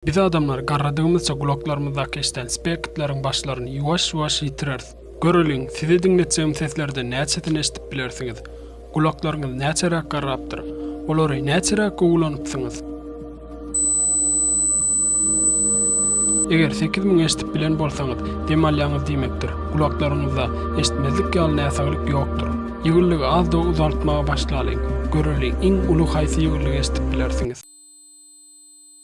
Biz adamlar garradygymyzça gulaklarymyzdaky eşden spekitleriň başlaryny ýuwaş-ýuwaş ýitireris. Göreliň, size diňletjegim seslerden näçesini eşdip bilersiňiz? Gulaklaryňyz näçeräk garrapdyr? Olary näçeräk gowy ulanypsyňyz? Eger sekiz müň eşdip bilen bolsaňyz, dem alýaňyz diýmekdir. Gulaklaryňyzda eşitmezlik ýaly näsaglyk ýokdur. Ýygyrlygy az-da uzaltmaga başlalyň. Göreliň, iň uly haýsy ýygyrlygy eşdip bilersiňiz?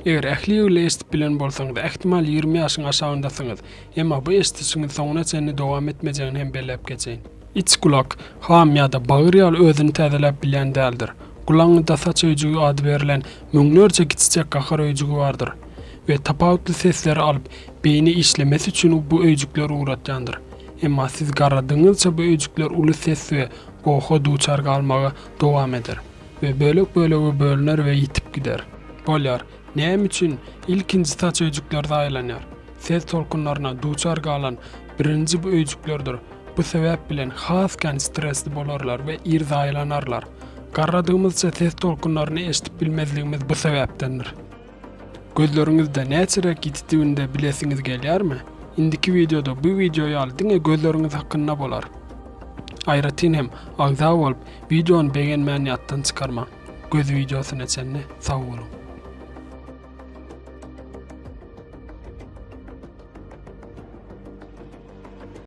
Eger ähli ýyl eşdip bilen bolsaňyz, ähtimal ýigrimi ýaşyň aşagyndasyňyz. Emma bu eşdişiňiz soňuna çenli dowam etmejegini hem belläp geçeýin. Iç gulak, ham ýa-da bagyr ýaly özüni täzeläp bilýän däldir. Gulagyňyzda saç öýjügi ady berlen müňlerçe kiçijek gahar öýjügi bardyr we tapawutly sesleri alyp, beýni işlemesi üçin bu öýjükler ugratýandyr. Emma siz garradygyňyzça bu öýjükler uly ses we goha duçar galmagy dowam eder. we bölek-bölege bölüner we ýitip gider. Bolýar. Näme üçin ilkinji saç öýjükleri zaýalanýar? Ses tolkunlaryna duçar galan birinji bu öýjüklerdir. Bu sebäp bilen has kän stresli bolarlar we ir zaýalanarlar. Garradygymyzça ses tolkunlaryny eşidip bilmezligimiz bu sebäpdendir. Gözleriňizde näçeräk ýititdiginde bilesiňiz gelýärmi? Indiki wideoda bu wideo ýaly diňe gözleriňiz hakynda bolar. Aýratyn hem agza bolup wideony begenmäni ýatdan çykarmaň. Göz wideosyna çenli sag boluň.